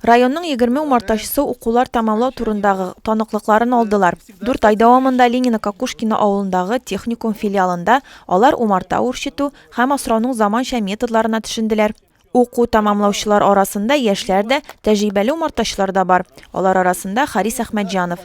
Районның егерме умартачысы укулар тәмамлау турындагы таныклыкларын алдылар. Дүрт ай дәвамында Ленина Кокушкина авылындагы техникум филиалында алар умарта үрчетү һәм асрауның заманча методларына төшенделәр. Уку тәмамлаучылар арасында яшьләр дә, тәҗрибәле умартачылар да бар. Алар арасында Харис Әхмәтҗанов,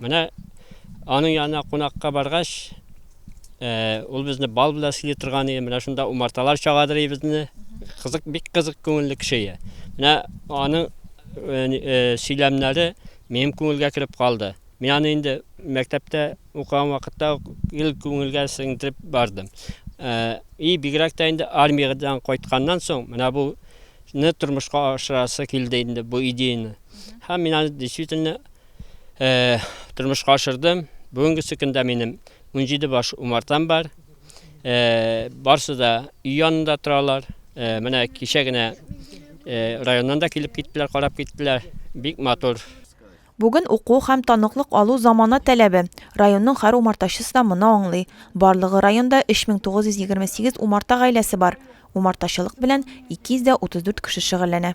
Менә аның янына кунакка баргач, ул безне бал белән сыйлый торган иде. Менә шунда умарталар чагадыр иде безне. Кызык, бик кызык күңелле кеше иде. Менә аның сөйләмнәре минем күңелгә кереп калды. Мин аны инде мәктәптә укыган вакытта ил күңелгә сеңдереп бардым. И бигрәк тә инде армиядән кайтканнан соң менә бу не тормышка ашырасы килде инде бу идеяны. Һәм мин аны действительно тормышка ашырдым. Бүгенгесе көндә минем 17 баш умартам бар. Барсы да өй янында торалар. Менә кичә генә районнан да килеп киттеләр, карап киттеләр. Бик матур. Бүген уку һәм таныклык алу замана таләбе. Районның һәр умартачысы да моны аңлый. Барлыгы районда 3928 умарта гаиләсе бар. Умартачылык белән 234 кеше шөгыльләнә.